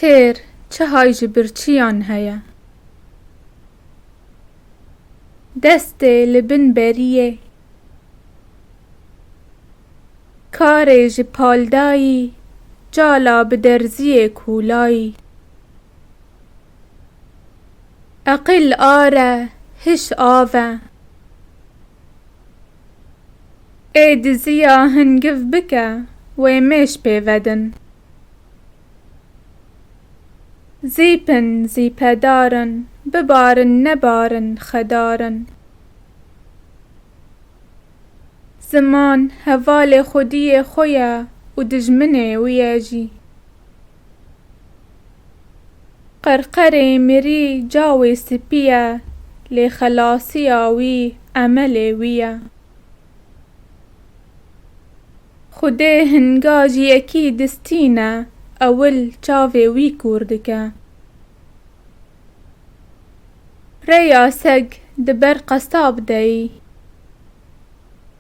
Têr, çihay ji birçiyan heye. Destê li bin beriyê. Karê ji paldayî, cala bi derziyê kûlayî. Eqil are, hiş ave. Ê diziya hingiv bike wê mêş pê vedin. Zîpin zîpedarin bibarin nebarin xedarin. Ziman hevalê xwediyê xwe ye û dijminê wî ye jî. Qerqerê mirî cawê spî ye, lê xelasiya wî emelê wî ye. Xwedê hinga ji yekî distîne ewil çavê wî kûr dike. Rêya seg di ber qesab de yî.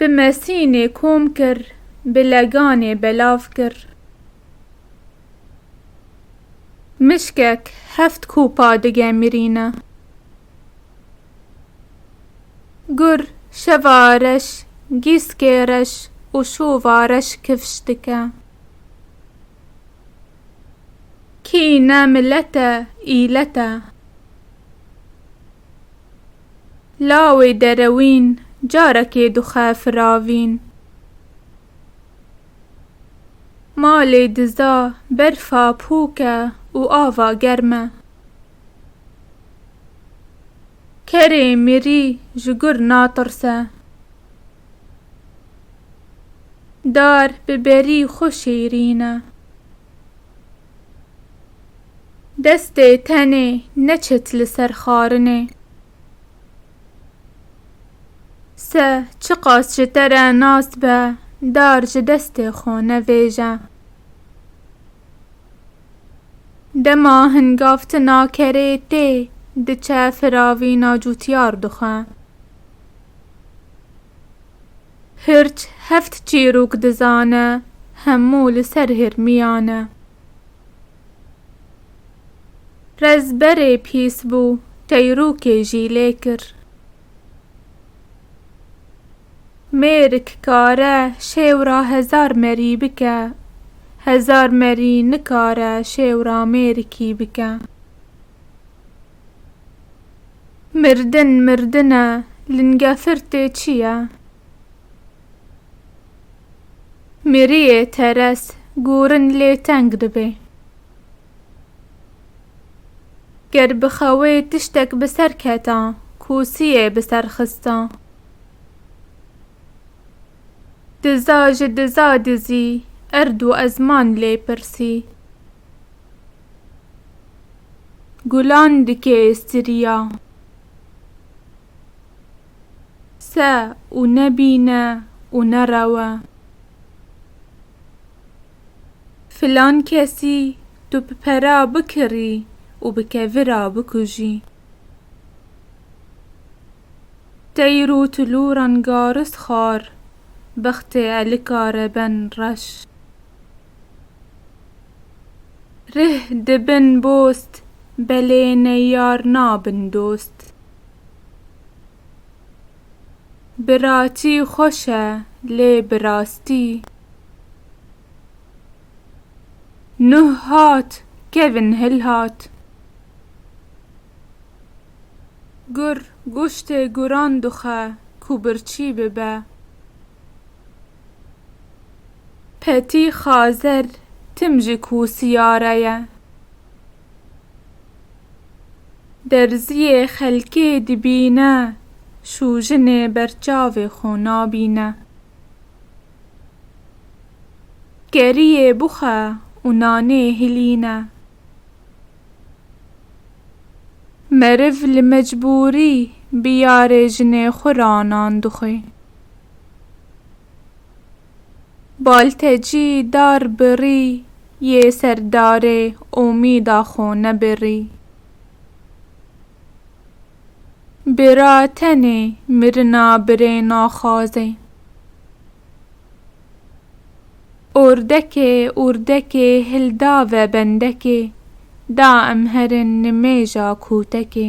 Bi mesînê kom kir, bi leganê belav kir. Mişkek heft kopa digemirîne. Gur şeva reş, gîskê reş û şova reş kifş dike. Kî ne milet e, îlet e. Lawê derewîn carekê dixe firavîn. Malê diza berfa pûk e û ava germ e. Kerê mirî ji gur natirse. Dar bi berî xwe şêrîn e. Destê tenê neçit li ser xarinê. Se çiqas ji te re nas be dar ji destê xwe nevêje. Dema hingavtina kerê tê diçe firavîna cûtyar dixwe. Hirç heft çîrûk dizane hemû li ser hirmiyan e. Rezberê pîs bû, teyrûkê jî lê kir. Mêrik kare şêwra hezar merî bike, hezar merî nikare şêwra mêrikî bike. Mirdin mirdin e, lingefirtê çi ye? Miriyê teres gurin lê teng dibe. Ger bi xewê tiştek bi ser keta, kûsiyê bi ser xista. Diza ji diza dizî, erd û ezman lê pirsî. Gulan dikê stirîya. Se û ne bîne û ne rewe. Filan kesî tu bi pera bikirî û bi kevira bikujî. Teyr û tulûran garis xar, bextê elika re ben reş. Rih dibin bost, belê neyar nabin dost. Bi raçî xweş e lê bi rastî. Nuh hat kevin hil hat. Gur goştê guran duxe ku birçî bibe. Petî xazer tim ji ku siyare ye. Derziyê xelkê dibîne, şûjinê berçavê xwe nabîne. Keriyê bixwe û nanê hilîne. Meriv li mecbûrî bi yarê jinê xwe ranan dixwe. Baltecî dar birî yê serdarê omîda xo nebirî. Bira tenê mirina birê naxwazê. Ordekê urdekê hilda ve bendekê da em herin nimêja kotekê.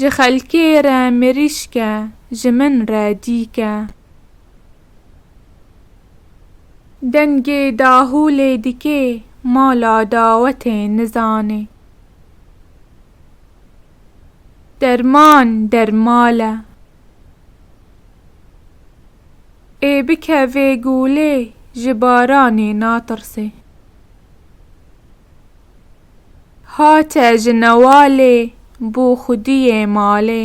Ji xelkê re mirîşk e, ji min re dîk e. Dengê dahûlê dikê mala dawetê nizanê. Derman der mal e. Ê bikevê gûlê ji baranê natirsê. Hate ji newalê bû xwediyê malê.